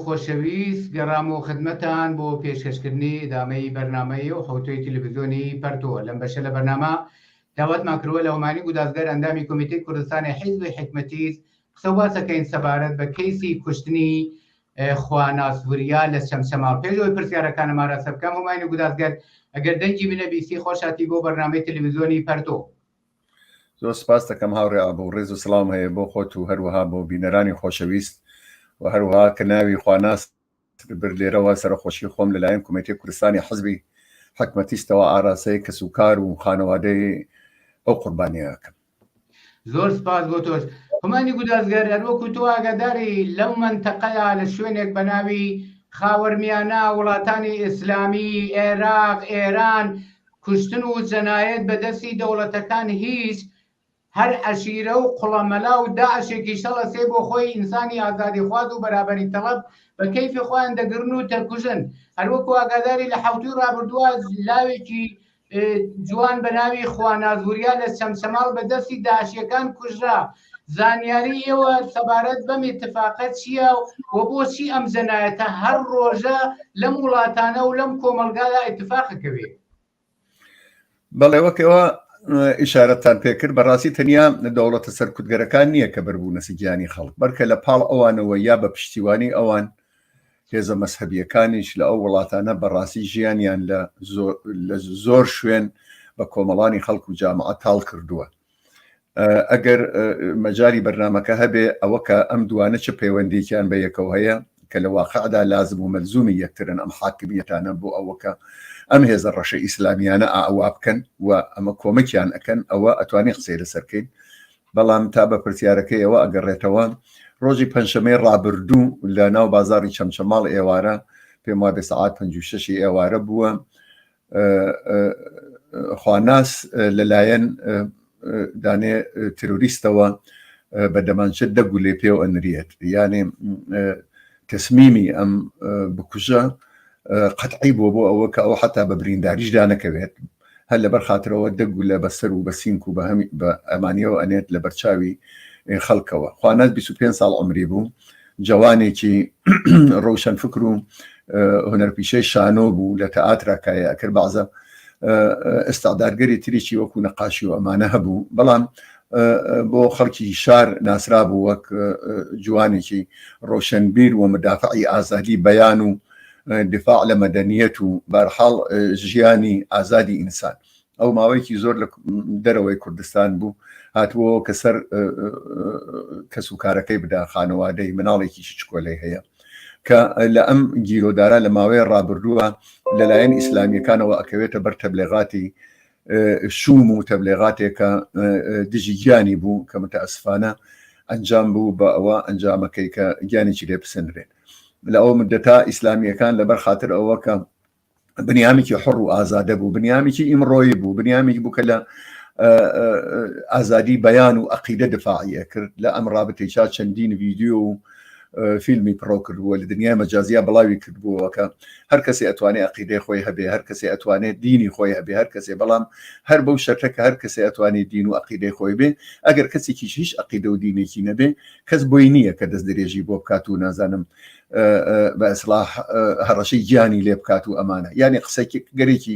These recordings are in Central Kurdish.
خۆشەویست گەڕامەوە خدمەتان بۆ پێشکەشکردنی ئیدامەی بەرنامەی ئەو حەوتووی تلویزیۆنی پەرتووە لەم بەشە لە بەرنامە داواتمان کردوە لە هۆمانی گودازگەر ئەندامی کۆمیتەی کوردستانی حیزبی حیکمەتیز قسەو باسەکەین سەبارەت بە کەیسی کوشتنی خواناس وریا لە چەمچەماڵ پێشەوەی پرسیارەکانم ئاراستە بکەم هۆمانی گودازگەر ئەگەر دەنگی منە بیسی خۆشاتی بۆ بەرنامەی تلویزیۆنی پەرتۆ زۆر سپاس دەکەم هاوڕێ ئابوو ڕێز و سلام هەیە بۆ خۆت و هەروەها بۆ بینەرانی خۆشەویست و هەروها کە ناوی خواناس بر لێرەوە سەرخۆشی خۆم لەلایەن کومێتی کوردستانی حزبی حکمەتیشتەوە ئاراسی کەس و کار و خانەوادەی ئەو قوربانیەکەم زۆر سپاس بۆ تۆش هەمانی گودازگەر هەروەکو تۆ ئاگاداری لەو منتەقەیە لە شوێنێک بە ناوی خاوەرمیانە وڵاتانی ئیسلامی عێراق ئێران کوشتن و جەنایەت بە دەستی دەوڵەتەکان هیچ هەر عەشیرە و قڵە مەلا و داعشێکی شەڵە سێ بۆ خۆی ئینسانی ئازادی خواز و بەرابەری تەڵەب بە کەیفی خۆیان دەگرن و دەکوژن هەر وەکو ئاگاداری لە حەوتووی ڕابردووە لاوێکی جوان بە ناوی خواناز وریا لە چەمچەماڵ بە دەستی داعشیەکان کوژرا زانیاری ئێوە سەبارەت بەم اتفاقە چییە و بۆچی ئەم جەنایەتە هەر ڕۆژە لەم وڵاتانە و لەم کۆمەلگادا اتفاقەکەوێت بەڵێ وەکەوە ئشارەتان پێکرد بەڕاستی تەنیا دەوڵەتە سەرکوتگەرەکان نییە کە بەربوونە سگیانی خەڵک بەرکە لە پاڵ ئەوانەوە یا بە پشتیوانی ئەوان هێزە مەسهبیەکانیش لە ئەو وڵاتانە بەڕاستی ژیانیان لە زۆر شوێن بە کۆمەڵانی خەڵک و جامعە تاڵ کردووە ئەگەر مەجاری بەرنامەکە هەبێ ئەوە کە ئەم دوانە چ پەیوەندێکیان بە یەکەوە هەیە کە لە واقعدا لازم و مەلزومی یەکترن ئەم حاکمیەتانە بۆ ئەوەکە ئەم هێزە ڕەشە ئیسلامیانە ئاوا بکەن و ئەمە کۆمەکیان ئەەکەن ئەوە ئەتوانی قسەی لەسەرکەین بەڵام تا بە پرسیارەکەیەوە ئەگەڕێتەوە ڕۆژی پەنجشەمەی ڕابردوو لە ناو بازاری چەمچەماڵ ئێوارە پێم وا بێ سەعات 56 ئێوارە بووە خواناس لەلایەن دانێ تروریستەوە بە دەمانچە دەگولێ پێو ئەنرێت یانێ تەسمیمی ئەم بکوژە قەتعی بۆ بۆ ئەوە کە ئەو حتا بە برینداریش دانەکەوێت هەر لەبەر خاطرەوە دەگولە بەسەر و بە سینک و بە هەمی بە ئەمانیەوە ئەنێت لە بەرچاوی خەڵکەوە خوانەت 25 ساڵ عمری بوو جەوانێکی ڕوشەن فکر و هونەرپیشەی شانۆ بوو لە تەئاترا کایە کرد بازە ئستادارگەری تریی وەکو نەقاشی و ئەمانە هەبوو بەڵام بۆ خەڵکی شار ناسرا بوو وەک جوانێکی ڕۆشنبیر و مدافعی ئازادی بەیان و دفاع لە مەدەنیەت و بارحاڵ ژیانی ئازادی ئینسان ئەو ماوەیەکی زۆر لە دەرەوەی کوردستان بوو هاتووە کە سەر کەس و کارەکەی بدا خانەوادەی مناڵێکی چکۆلەی هەیە کە لە ئەم گیرۆدارا لە ماوەیە ڕابردووە لەلایەن ئیسلامیەکانەوە ئەکەوێتە بەر تەبلێغاتی شوم و تەبلێغاتێکە دژی گیانی بوو کە متەسفانە ئەنجام بوو بە ئەوە ئەنجامەکەی کە گیانێکی لێ بسەنرێت لە ئەو مدەتا ئیسلامیەکان لەبەر خاطر ئەوە کە بنیامێکی حڕ و ئازادە بوو بنیامێکی ئیمڕۆی بوو بنیامێک بوو کە لە ئازادی بەیان و عقیدە دفاعە کرد لە ئەم رابطێکا چەندین ویددیو و فیلمی پڕۆ کردووە لە دنیای مەجازیا بڵاوی کردبووەکە هەر کەسی ئەتوانێت عقیدەی خۆی هەبێ هەر کەسی ئەتوانێت دینی خۆی هەبێ هەر کەسێ بەڵام هەر بەو شەرتە کە هەر کەسی ئەتوانێت دین و عقیدەی خۆی بێ ئەگەر کەسێکیش هیچ عقیدە و دینێکی نەبێ کەس بۆی نییە کە دەست درێژی بۆ بکات و نازانم بە ئەسلاح هەڕەشەی گیانی لێ بکات و ئەمانە یعنی قسەگەرێکی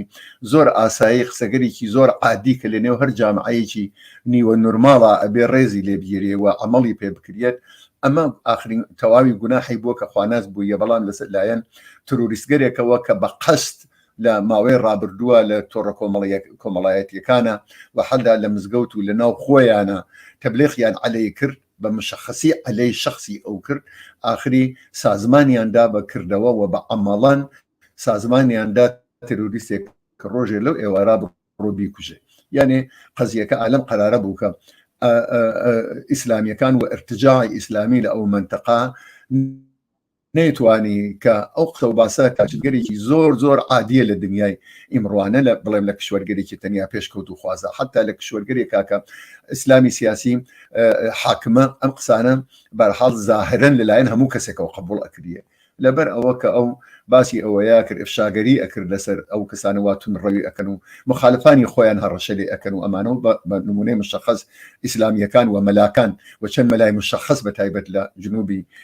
زۆر ئاسایی قسەگەرێکی زۆر عادی کە لە نێو هەر جامعەیەکی نیوە نورماڵە ئەبێ ڕێزی لێ بگیرێ و عملی پێ بکرێت ئەمە ئاخرین تەواوی گوناحی بووە کە خواناز بووە بەڵام لەسەر لایەن تروریستگەرێکەوە کە بە قەست لە ماوەی ڕابردووە لە تۆڕە کۆمەڵەیە کۆمەڵایەتیەکانە و حەدا لە مزگەوت و لە ناو خۆیانە تەبلێخیان عەلەی کرد بە مشەخەسی عەلەی شەخسی ئەو کرد، ئاخری سازمانیان دا بە کردەوە و بە عەمەڵان سازمانیان دا تێرۆریستێک کە ڕۆژێ لەو ئێوارا بڕۆ بیکوژێ. یانێ قەزیەکە ئالەم قەرارە بوو کە ئیسلامیەکان و ئیرتجاعی ئیسلامی لە ئەو مەنتەقە، نەیتوانی کە ئەو قسە و باسە کاچگەرێکی زۆر زۆر عادیە لە دنیای ئیمڕوانە لە بڵێم لە کشوەرگەرێکی تەنیا پێشکەوت و خوازە حتا لە کشوەرگەرێک کاکە ئیسلامی سیاسی حاکمە ئەم قسانە بەرحاڵ زاهرن لەلایەن هەموو کەسێکەوە قبول ئەکریە لەبەر ئەوە کە ئەو باسی ئەوەیە کرد ئفشاگەری ئەکرد لەسەر ئەو کەسانە واتون ڕەوی ئەەکەن و مخالفانی خۆیان هەڕەشە لێ ئەەکەن و ئەمانەوە بە نمونەی مشخص ئیسلامیەکان و مەلاکان و چەند مەلای مشخص بە تایبەت لە جنوبی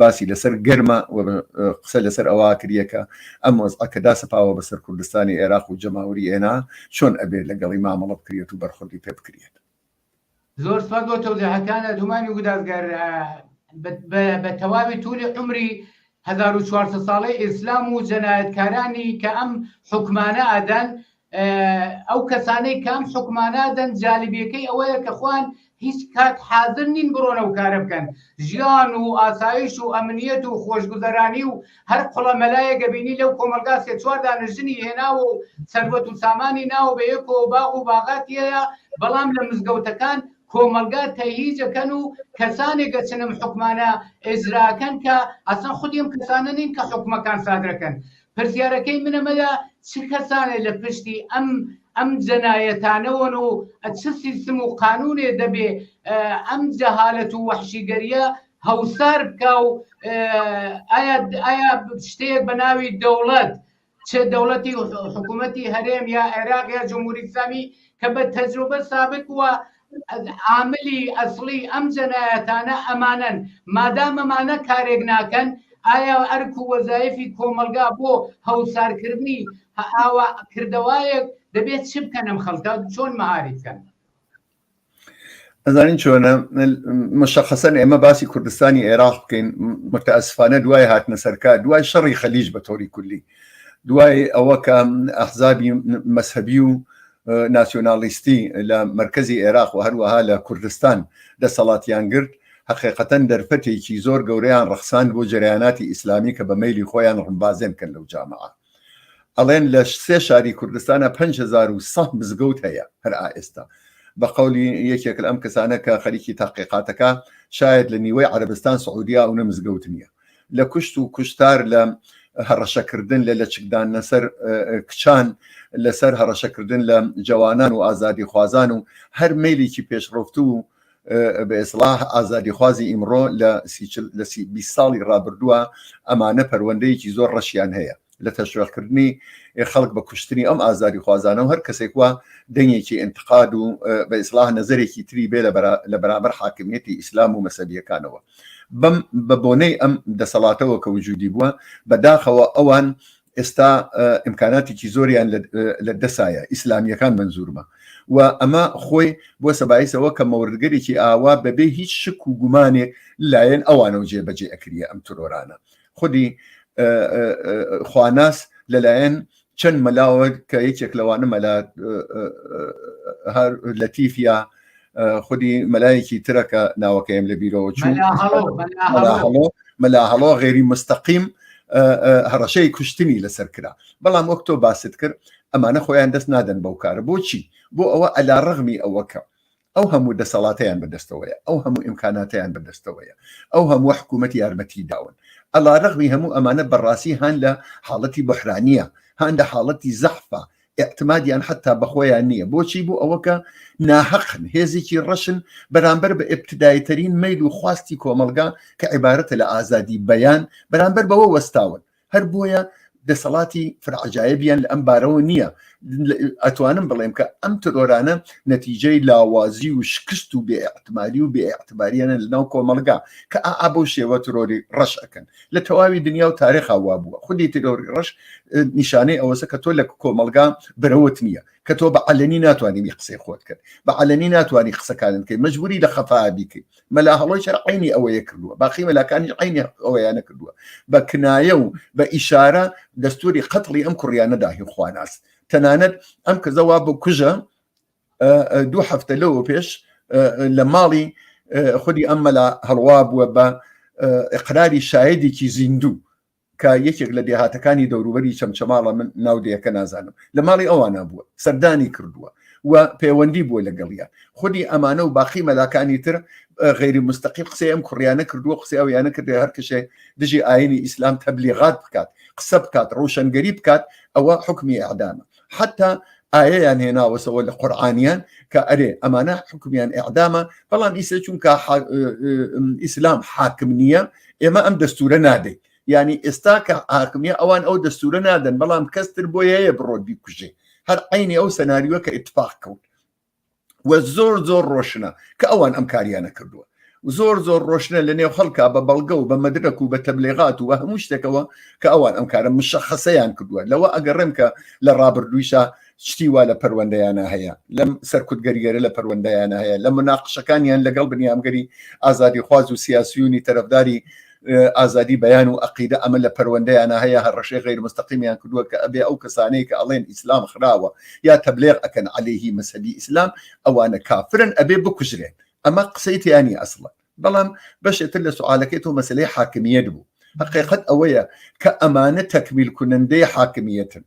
باسی لەسەر گەرمە و قسە لەسەر ئەوە کریەکە ئەم وەزعە کە داسەپاوە بەسەر کوردستانی عێراق و جەماوری ئێنا چۆن ئەبێت لەگەڵی مامەڵە بکرێت و بەرخوردی پێ بکرێت. زۆر سوپاس بۆ تەوزیحەکانە دومانی گودازگەر بە تەواوی تولی عمری 1400 ساڵەی ئیسلام و جەنایەتکارانی کە ئەم حکمانە ئەدەن ئەو کەسانەی کام حکومانادەن جالبیەکەی ئەوەیە کە خوان هیچ کات حازر نین بڕۆنە و کارە بکەن ژیان و ئاسایش و ئەمنیەت و خۆشگوزەرانی و هەر قڵە مەلایە گەبینی لەو کۆمەلگا سێ چوار دانژنی هێناوە و سەروەت و سامانی ناوە بە یەکۆ باغ و باغاتیەیە بەڵام لە مزگەوتەکان کۆمەلگا تەهیجەکەن و کەسانێ گەچنم حکومانە ئێجراکەن کە ئەسڵەن خودی ئەم کەسانە نین کە حکومەکان سادرەکەن پرسیارەکەی من ئەمەیە چ کەسانێ لە پشتی ئەم ئەم جەنایەتانەوەن و چ سیستم و قانونێ دەبێ ئەم جەهالەت و وەحشیگەریە هەوسار بکا و ئایا ئایا شتەیەک بە ناوی دەوڵەت چ دەوڵەتی حکوومەتی هەرێم یا عێراق یا جمهوری ئیسلامی کە بە تەجروبە سابت بووە عاملی ئەسڵی ئەم جەنایەتانە ئەمانەن، مادام ئەمانە کارێک ناکەن ئایا ئەرک و وەزایفی کۆمەڵگا بۆ هەوسارکردنی ئاوا کردەوایەک دەبێت چ بکەن ئەم خەڵکە چۆن مەعاریف بکەن؟ ئەزانین چۆنە مشخصەن ئێمە باسی کوردستانی عێراق بکەین متەسفانە دوای هاتنە سەرکار دوای شەڕی خەلیج بە تۆری کولی دوای ئەوە کە ئەحزابی مەسهبی و ناسیۆنالیستی لە مرکزی عێراق و هەروەها لە کوردستان دەسەڵاتیان گرت حقیقەتەن دەرفەتێکی زۆر گەورەیان ڕخسان بۆ جریاناتی ئیسلامی کە بە میلی خۆیان ڕمبازێن کەن لەو جامعە ئەڵێن لە سێ شاری کوردستانە 500 مزگەوت هەیە هەر ئائێستا بە قولی یەکێک ئەم کەسانە کە خەریکی تاقیقاتەکە شاید لە نیوەی عربستان سعودیا و نە مزگەوت نییە لە کوشت و کوشتار لە هەڕەشەکردن لە لەچکدان لەسەر کچان لەسەر هەڕەشەکردن لە جوانان و ئازادی خوازان و هەر میلێکی پێشڕفت و بە ئێسلاح ئازادی خوازی ئیمڕۆ لە ساڵی ڕابردووە ئەمانە پەروەندەیەکی زۆر ڕەشیان هەیە لە تەشویقکردنی خەڵک بە کوشتنی ئەم ئازادی خوازانە و هەر کەسێک وە دەنگێکی ئینتقاد و بە ئیسلاح نەزەرێکی تری بێ لە بەرامبەر حاکمیەتی ئیسلام و مەسەبیەکانەوە بەم بە بۆنەی ئەم دەسەڵاتەوە کە وجودی بووە بەداخەوە ئەوان ئێستا ئیمکاناتێکی زۆریان لە دەسایە ئیسلامیەکان منزورمە و ئەمە خۆی بۆ سەبایسەوە کە مەوردگەرێکی ئاوا بەبێ هیچ شک و گومانێک لایەن ئەوانەوە جێبەجێ ئەکریە ئەم ترۆرانە خودی خواناس لەلایەن چەند مەلاوە کە یەکێک لەوانە مەلا هەر لەتیفە خودی مەلایەکی ترەکە ناوەکەیم لە بیرەوە چوو مەلا هەڵۆ غێری مستەقیم هەڕەشەی کوشتنی لەسەر کرا بەڵام وەک تۆ باست کرد ئەمانە خۆیان دەست نادەن بەو کارە بۆچی بۆ ئەوە ئەلا ڕغمی ئەوەکە ئەو هەموو دەسەڵاتەیان بەدەستەوەیە، ئەو هەموو ئیمکاناتەیان بەدەستەوەیە، ئەو هەمووە حکوومەتی یارمەتیی داون. عەلا رەغمی هەموو ئەمانە بەڕاستی هان لە حاڵەتی بوحرانییە، هان لە حاڵەتی زەحفە، ئیعتمادیان حەتتا بە خۆیان نییە. بۆچی؟ بۆ ئەوە کە ناهەقن، هێزێکی رەشن بەرامبەر بە ئیبتیداییترین مەیل و خواستی کۆمەڵگا کە عیبارەتە لە ئازادیی بەیان، بەرامبەر بەوە وەستاون. هەر بۆیە دەسەڵاتی فرعجایبیان لە ئەم بارەوە نییە ئەتوانم بڵێم کە ئەم ترۆرانە نەتیجەی لاوازی و شکست و بێعتماری و بێعتباریانە لە ناو کۆمەلگا کە ئا بۆ شێوە ترۆری ڕەش ئەەکەن لە تەواوی دنیا و تارێخا وا بووە خودی ترۆری ڕەش نیشانەی ئەوەسە کە تۆ لە کۆمەلگا برەوت نییە کە تۆ بە علەنی ناتوانانی قسەی خۆت کرد بە علەنی ناتوانانی قسەکانت کرد مەجبوری لە خەفا بیکەیت مەلا هەڵۆی شەر عینی ئەوەیە کردووە باقی مەلاکانی عینی ئەوەیە نەکردووە بە کنایە و بە ئیشارە دەستوری قەتڵی ئەم کوڕیانەداهی خواناس تەنانەت ئەم کەزەوا بۆ کوژە دوو هەفتە لەوە پێش لە ماڵی خودی ئەم مەلا هەڵوا بووە بە اقراری شایدێکی زیندوو کە یەکێک لە دێهاتەکانی دەوروبەری چەمچەماڵە من ناو دەیەکە نازانم لە ماڵی ئەوانە بووە سەردانی کردووە و پەیوەندی بووە لەگەڵیان خودی ئەمانە و باقی مەلاکانی تر غیری مستەقیم قسەی ئەم کوڕیانە کردووە قسەی ئەو یانە کردێ هەر کەشێ دژی ئاینی ئیسلام تەبلیغات بکات قسە بکات ڕوشنگەری بکات ئەوە حکمی ئەعدامە حتا ئاەیان هێناوەسەوە لە قورآانیان کە ئەرێ ئەمانە حکومیان ئەعدامە بەڵام ئیسە چونکە ئیسلام حاکم نییە ئێمە ئەم دەستورە نادەین ینی ئێستا کە ئاکمیە ئەوان ئەو دەستورە نادەن بەڵام کەستر بۆ هەیە بڕۆ بیکوژێ هەر عینی ئەو سەناریوە کە اتفاق کەوت و زۆر زۆر ڕۆشنە کە ئەوان ئەم کاریانە کردووە زۆر زۆر ڕۆشنە لە نێو خەڵکا بە بەڵگە و بە مەدرک و بە تەبلێغات و بە هەموو شتێکەوە کە ئەوان ئەم کارە مشەخەسەیان کردووە لەوە ئەگەڕێم کە لە ڕابردوویشە شتی وا لە پەروەندەیانە هەیە لەم سەرکوتگەریگەرە لە پەروەندەیانە هەیە لە مناقشەکانیان لەگەڵ بنیامگەری ئازادی خواز و سیاسیونی تەرەفداری ئازادی بەیان و عقیدە ئەمە لە پەروەندەیانە هەیە هەڕەشەی غیر مستەقیمیان کردووە کە ئەبێ ئەو کەسانەی کە ئەڵێن ئیسلام خراوە یا تەبلێغ ئەکەن عەلەیهی مەسەبی ئیسلام ئەوانە کافرن ئەبێ بکوژرێن ئەمە قسەی تیانی ئەسڵە بەڵام بەشێتر لە سوعاالەکەی تۆ مەسلەی حاکمیت بوو حقیقت ئەوەیە کە ئەمانە تەکمیل کونندەی حاکمیتن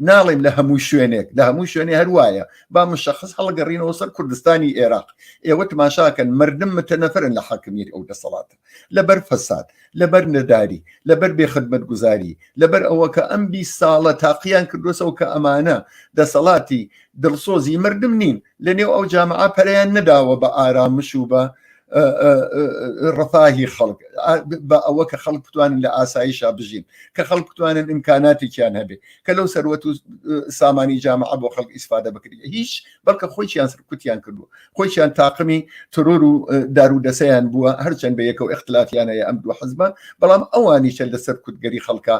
ناڵێم لە هەموو شوێنێک لە هەموو شوێنێ هەروایە با مشخص هەڵگەڕینەوە سەر کوردستانی عێراق ئێوە تماشاکەن مردم متەنەفرن لە حاکمیت ئەو دەسەڵات لەبەر فەساد لەبەر نەداری لەبەر بێ خدمەت گوزاری لەبەر ئەوە کە ئەم بی ساڵە تاقییان کردوسەوە کە ئەمانە دەسەڵاتی دڵسۆزی مردم نین لە نێو ئەو جامعە پەریان نەداوە بە ئارامش و بە ڕفاهی خەڵک بە ئەوە کە خەڵک بتوانن لە ئاساییشا بژین کە خەڵک بتوانن ئیمکاناتێکیان هەبێ کە لەو سەروەت و سامانی جامع بۆ خەڵک ئیسفادە بکرێت هیچ بەڵکە خۆیان سرکوتیان کردو خۆیان تاقمی ترۆر و دارو دەسەیان بووە هەرچەند بە یەکەوە اختلافیانەیە ئەم دوو حزبە بەڵام ئەوانیشە لە سەرکوتگەری خەڵکە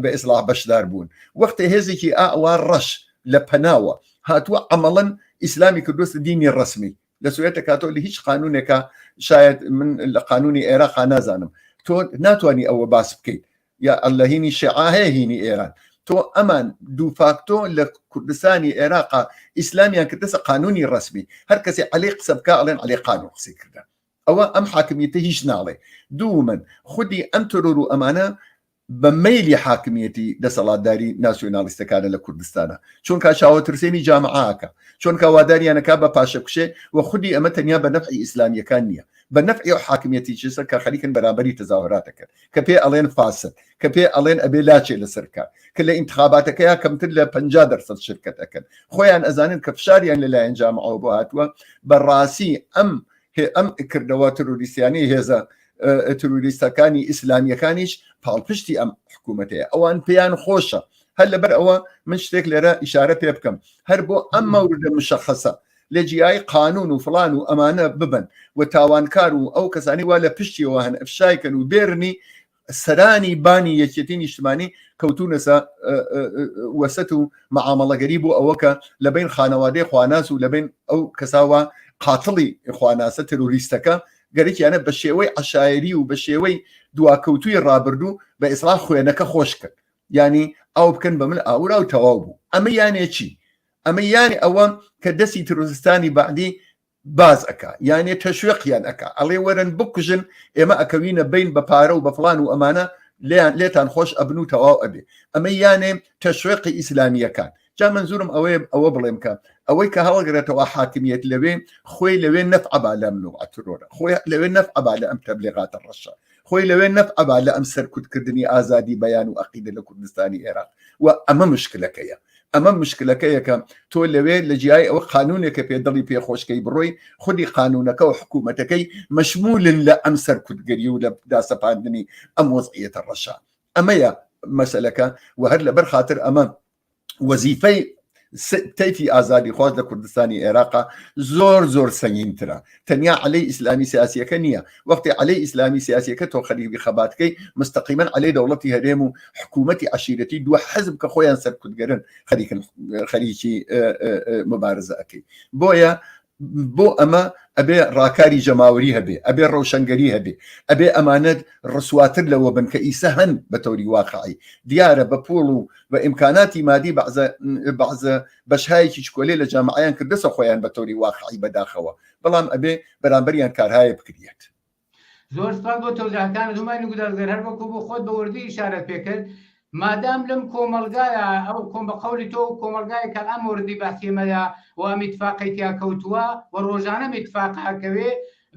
بە ئیسلاح بەشدار بوون وەختە هێزێکی ئاوا ڕەش لە پەناوە هاتووە ئەمەڵەن ئیسلامی کردوستە دینی ڕسمی دەسوێت دەکاتۆ لە هیچ قانونێکە شاید من لە قانونی عێراقا نازانم تۆ ناتانی ئەوە باس بکەیت یا ئەلهینی شعاهەیە هینی ئێران تۆ ئەمان دوو فاکتۆ لە کوردستانی عێراقا ئیسلامیان کردەسە قانونی ڕسمی هەر کەسی علی قسە بکە ئەڵێن علی قانون قسەی کردە ئەوە ئەم حاکمیتە هیچ ناڵێ دوو من خودی ئەم تۆرۆر و ئەمانە بە مەیلی حاکمیەتی دەسەڵاتداری ناسیۆنالیستەکانە لە کوردستانە چونکە چاوەترسێنی جامعاکە چونکە واداریانەکە بە پاشەکوشێ و خودی ئەمە تەنیا بە نەفعی ئیسلامیەکان نییە بە نەفعی و حاکمیەتی چسە کە خەریکن بەرامبەری تەزاهراتەکەن کە پێ ئەڵێن فاسد کە پێ ئەڵێن ئەبێ لاچێ لەسەرکە کە لە ئینتخاباتەکەیا کەمتر لە پ دەرسەد شرکت ئەەکەن خۆیان ئەزانن کە فشاریان لەلایەن جامعەوە بۆ هاتووە بەڕاستی ئەم هی ئەم کردەوە تروریستیانەی هێزە تروریستەکانی ئیسلامیەکانیش پاڵپشتی ئەم حکوومەتەیە ئەوان پێیان خۆشە هەر لەبەر ئەوە من شتێک لێرە ئیشارە پێ بکەم هەر بۆ ئەم مەوردە مشەخەسە لە جیای قانون و فلان و ئەمانە ببن و تاوانکار و ئەو کەسانی وا لە پشتیەوە هەن ئەفشایکەن و بێرنی سەرانی بانی یەکێتی نیشتمانی کەوتونەسە وەسەت و مەعامەڵەگەری بۆ ئەوە کە لە بین خانەوادەی خواناس و لە بین ئەو کەساوە قاتڵی خواناسە تروریستەکە گەرەکیانە بە شێوەی عشاعری و بە شێوەی دواکەوتوی ڕابردوو بە ئیسرا خوێنەکە خۆش کرد ینی ئەو بکەن بە من ئاورا و تەواو بوو ئەمە یانێکی ئەمە یانی ئەوە کە دەستی تروریستانی بەعدی باز ئەک یانێ تەشوێقیان ئەک ئەڵێ وەرن بکوژن ئێمە ئەکەوینە بین بە پارە و بە فلان و ئەمانە لیان لێتان خۆش ئەبن و تەواو ئەبێ ئەمە یانێ تەشوێقی ئیسلامیەکان جا منزورم ئەوەیە ئەوە بڵێم کە ئەوەی کە هەڵگرێتەوە حاکمیت لەوێ خۆی لەوێ نەفعبا لەم نوعترۆرە خۆی لەوێ نەفعبا لە ئەم تەبلێغاتە ڕەشە خۆی لەوێ نەبعەبا لە ئەم سەرکوتکردنی ئازادی بەیان و ئەقیدە لە کوردستانی ئێراق و ئەمە مشکلەکەیە ئەمە مشکلەکەیەکە تۆ لەوێ لە جیای ئەوە قانونێکە پێ دڵی پێخۆشکەی بڕۆی خودی قانونەکە و حکوومەتەکەی مەشمولن لە ئەم سەرکوتگەری و لە داسەپاندنی ئەم وەزعیەتە ڕەشە ئەمەیە مەسلەکە و هەر لەبەر خاطر ئەمە وەزیفەی تەیفی ئازادی خواست لە کوردستانی عێراقا زۆر زۆر سەنگینترە تەنیا علەی ئیسلامی سیاسیەکە نییە وەختی علەی ئیسلامی سیاسیەکە تۆ خەریبی خەباتکەی مستەقیمەن علەی دەوڵەتی هەرێم و حکوومەتی عشیرەتی دو حزب کە خۆیان سەرکوتگەرن خەریکن خەریکی مبارزە ئەەکەی بۆیە بۆ ئەمە ئەبێ ڕاکاری جەماوەری هەبێ ئەبێ ڕەوشەنگەری هەبێ ئەبێ ئەمانەت ڕسواتر لەوە بن کە ئیسە هەن بە تەوری واقعی دیارە بە پۆڵ و بە ئیمکاناتی مادی بەعزە بەعزە بەشهایەکی چکۆلێ لە جامعیان کردەسە خۆیان بە تەوری واقعی بەداخەوە بەڵام ئەبێ بەرامبەریان کارهایە بکریت زۆر سپاس بۆ تۆزاکانت هەمای نگودارگەر هەر بەکو بۆ خۆت بە وردی ئشارەت پێکرد مادام لەم کۆمەلگایە ئەو کۆم بە قولی تۆ و کۆمەلگای کە ئەم وردی باسیێمەدا و ئەم اتفاقی تیا کەوتووە و ڕۆژانە میتفاق هەکەوێ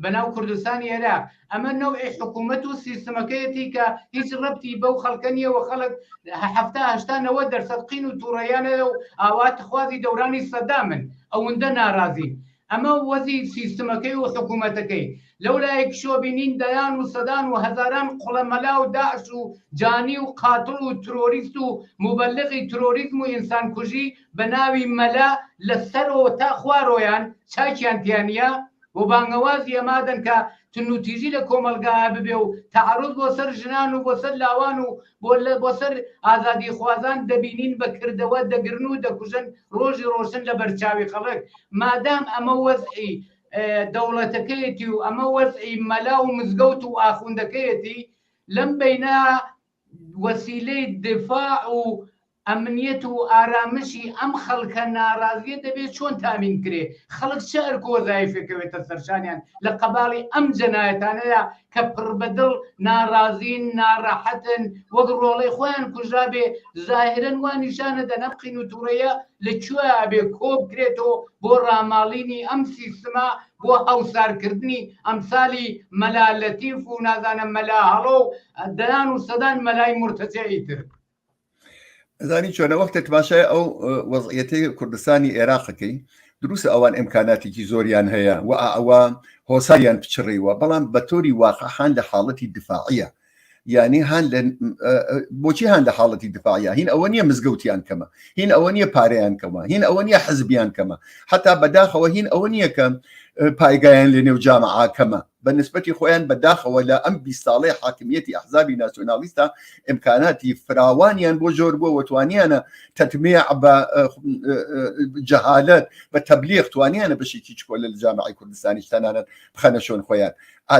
بەناو کوردستانی عێراق ئەمە نەوعی حکوومەت و سیستمەکەیەتی کە هیچ ڕەتی بەو خەڵکە نیە و خەڵک هەهشتانەوە دەرسەد قین و تووڕیانەیە و ئاوات خوازی دەورانی سەدامن ئەوەندە ناڕازین ئەمە وەزی سیستمەکەی و حکومەتەکەی، لەولایەکیشەوە بینین دەیان و سەدان و هەزاران قوڵە مەلا و داعش و جانی و قاتڵ و ترۆریست و موبەلغی ترۆریزم و ئینسان کوژی بە ناوی مەلا لە سەرۆ تا خوارۆیان چاکیان تیا نیە و بانگەوازی ئەمادەن کە تنوتیژی لە کۆمەڵگایا ببێ و تەعەروز بۆ سەر ژنان و بۆ سەر لاوان و گوللە بۆ سەر ئازادیخوازان دەبینین بە کردەوە دەگرن و دەکوژن ڕۆژی ڕۆشن لە بەرچاوی خەڵک مادام ئەمە وەزعی دەوڵەتەکەیەتی و ئەمە وەزعی مەلا و مزگەوت و ئاخوندەکەیەتی لەم بینە وەسیلەی دفاع و ئەمنیەت و ئارامشی ئەم خەڵکە نارازیە دەبێ چۆن تامین کرێ؟ خەڵک چ ئەرک و وەزایفێکەوێتە سەرشانیان لە قەباڵی ئەم جەنایەتانەدا کە پڕبەدڵ نارازین، ناڕەحەتن، وەک ڕۆڵەی خۆیان کوژرابێ، زاهرەن وا نیشانەدەن ئەم قین و توڕەیە لە کوێ ئەبێ کۆبکرێتەوە بۆ ڕاماڵینی ئەم سیستمە بۆ هەوسارکردنی ئەمسالی مەلا لەتیف و نازانم مەلا هەڵۆ و دەیان و سەدان مەلای مورتەجەعی تر. زانی چۆنە وەختە تماشای ئەو وەزعەتی کوردستانی عێراقەکەی دروست ئەوان ئەمکاناتێکی زۆریان هەیە و ئەوە هۆساریان پچڕیوە بەڵام بە تۆری واقعحان لە حاڵەتی دفاعە یعنی هەن بۆچی هەن لە حاڵەتی دفاعە هین ئەوە نیە مزگەوتیان کەمە هین ئەوە نیە پارەیان کەمە هین ئەوە نیە حزبیان کەمە حتا بەداخەوە هین ئەوە نیە کە پایگایان لە نێو جامعاکەمە بە نسبەتی خۆیان بە داخەوە لە ئەم بیست ساڵەی حاکمییەتی ئەحزابی ناسیۆنالیستە ئیمکاناتی فراوانیان بۆ زۆر بووە و توانیانە تەتمیع بە جەهالەت بە تەبلیغ توانیانە بەشێکی چکۆلە لە جامعی کوردستانیش تەنانەت بخەنە شوێن خۆیان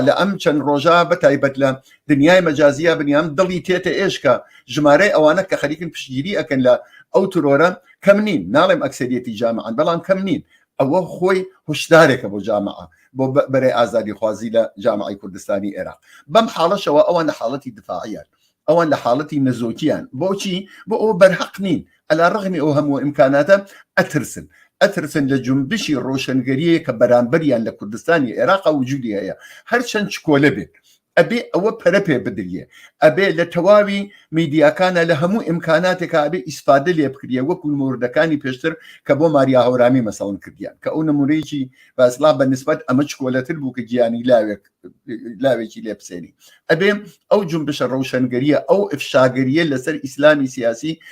لە ئەم چەند ڕۆژە بە تایبەت لە دنیای مەجازیە بنیام دڵی تێتە ئێشکە ژمارەی ئەوانە کە خەریکن پشتگیری ئەکەن لە ئەو ترۆرە کەم نین ناڵێم ئەکسریەتی جامعان بەڵام کەم نین ئەوە خۆی هشدارێکە بۆ جامع بۆ بەرەی ئازادی خوازی لە جامعی کوردستانی ئێرا بەم حاڵەشەوە ئەوان لە حاڵەتی دفاعیان ئەوان لە حاڵەتی نەزۆکیان بۆچی بۆ ئەو بەرهەق نین ئەلا ڕغمی ئەو هەموو ئیمکاناتە ئەترسن ئەترسن لە جنبشی ڕۆشنگەریە کە بەرامبەریان لە کوردستانی عێراق وجودی هەیە هەرچەند چکۆلە بێت ئەبێ ئەوە پەرە پێ بدریە ئەبێ لە تەواوی میدیاکانە لە هەموو ئیمکاناتێکا ئەبێ ئیسفادە لێ بکریە وەکو موردەکانی پێشتر کە بۆ ماریا هەورامی مەسەڵن کردیان کە ئەو نمونەیەکی باسڵا بە نسبەت ئەمە چکۆلەتر بوو کە گیانی لاوێک لاوێکی لێ بسێنی ئەبێ ئەو جنبشە ڕەوشەنگەریە ئەو ئفشاگەریە لەسەر ئیسلامی سیاسی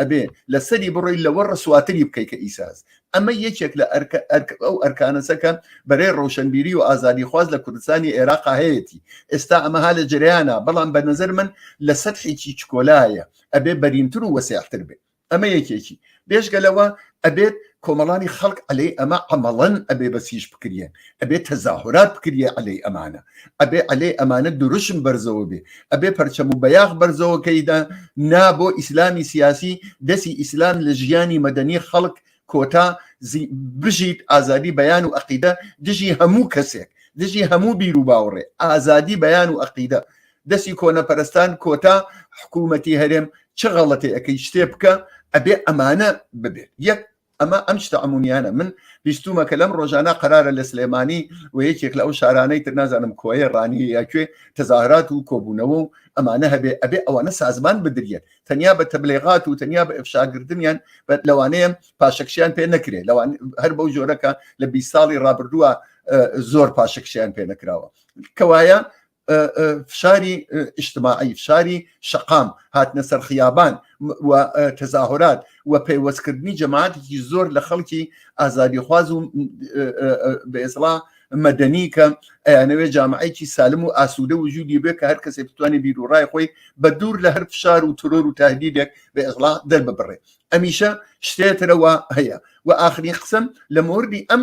ئەبێ لەسەری بڕۆی لەوە ڕسواتری بکەیت کە ئیساز ئەمە یەکێک لە ئەرکە ئەرک ئەو ئەرکانەسەکە بەرەی ڕەوشەنبیری و ئازادی خواز لە کوردستانی عێراق هەیەتی ئێستا ئەمەها لە جریانە بەڵام بە نظر من لە سەدحێکی چکۆلایە ئەبێ بەرینتر و وەسیعتر بێت ئەمە یەکێکی بێژگە لەوە ئەبێت کۆمەڵانی خەڵک عەلەی ئەمە عەمەڵەن ئەبێ بەسیش بکریەن ئەبێ تەزاهورات بکریە عەلەی ئەمانە ئەبێ عەلەی ئەمانە دروشم بەرزەوە بێ ئەبێ پەرچەم و بەیاخ بەرزەوەکەیدا نا بۆ ئیسلامی سیاسی دەسی ئیسلام لە ژیانی مەدەنی خەڵک کۆتا بژیت ئازادی بەیان و عقیدە دژی هەموو کەسێک دژی هەموو بیر و باوڕێ ئازادی بەیان و عقیدە دەستی کۆنەپەرستان کۆتا حکوومەتی هەرێم چ غەڵەتێ ئەەکەی شتێ بکە ئەبێ ئەمانە ببێت یەک ئەمە ئەم شتە ئەمونیانە من بیستومە کە لەم ڕۆژانە قرارە لە سلێمانی و یەکێک لە ئەو شارانەی تر نازانم کۆیە ڕانی یاکوێ تەزاهرات و کۆبوونەوە و ئەمانە هەبێ ئەبێ ئەوانە سازمان بدرێت تەنیا بە تەبلێغات و تەنیا بە ئەفشاگردنیان لەوانەیە پاشەکشیان پێ نەکرێت لەوان هەر بەو جۆرەکە لە بی ساڵی ڕابردووە زۆر پاشەکشیان پێ نەکراوە کەوایە فشاری ئیشتماعی فشاری شقام هاتنە سەر خیابان و تەزاهۆرات و پەیوەستکردنی جەماعاتێکی زۆر لە خەڵکی ئازادی خواز و بەێسڵا مەدەنی کە ئەیانەوێ جامعەیەکی سالم و ئاسوودە وجودی بێ کە هەر کەسێک بتوانێت بیر و ڕای خۆی بە دوور لە هەر فشار و ترۆر و تهدیدێک بە ئەغڵا دەرببڕێ ئەمیشە شتێترەوە هەیە و ئاخری قسم لە مردی ئەم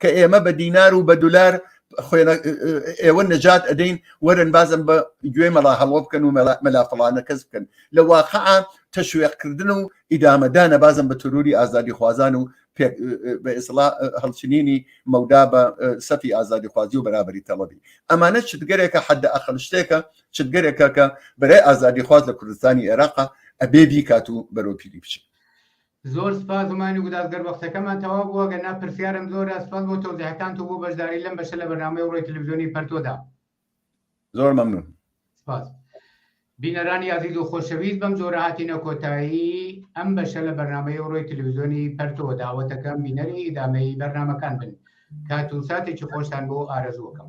کە ئێمە بە دینار و بە دولار ئێوە نەجات ئەدەین وەرن بازم بە گوێ مەڵا هەڵۆ بکەن و مەلافڵانە کەس بکەن لە واقع تەشوێقکردن و ئیدامەدانە بازم بە تروری ئازادی خوازان و بە ئسڵا هەڵچنینی مەودا بە سەفی ئازادی خوازی و بەرابری تەڵەبی ئەمانە چتگەرێکە حد ئەخل شتێکە چتگەرێکە کە بەرای ئازادی خواز لە کوردستانی عێراقا ئەبێ بیکات و بەرۆپیری بچێت زۆر سپاس هومانی گوداز گەر وەختەکەمان تەواو بوو ئەگەر نا پرسیارم زۆرە سپاس بۆ تەوزیحەکانت و بۆ بەشداری لەم بەشە لە بەرنامەی ڕۆی تلویزیۆنی پەرتۆدا زۆر مەمنون سپاس بینەرانی عزیز و خۆشەویست بەم جۆرە هاتینە کۆتایی ئەم بەشە لە بەرنمەی ڕۆی تلویزیۆنی پەرتۆ داوەتەکەم بینەری ئیدامەی بەرنمەکان بن کات و ساتێکی خۆشتان بۆ ئارەزوەکەم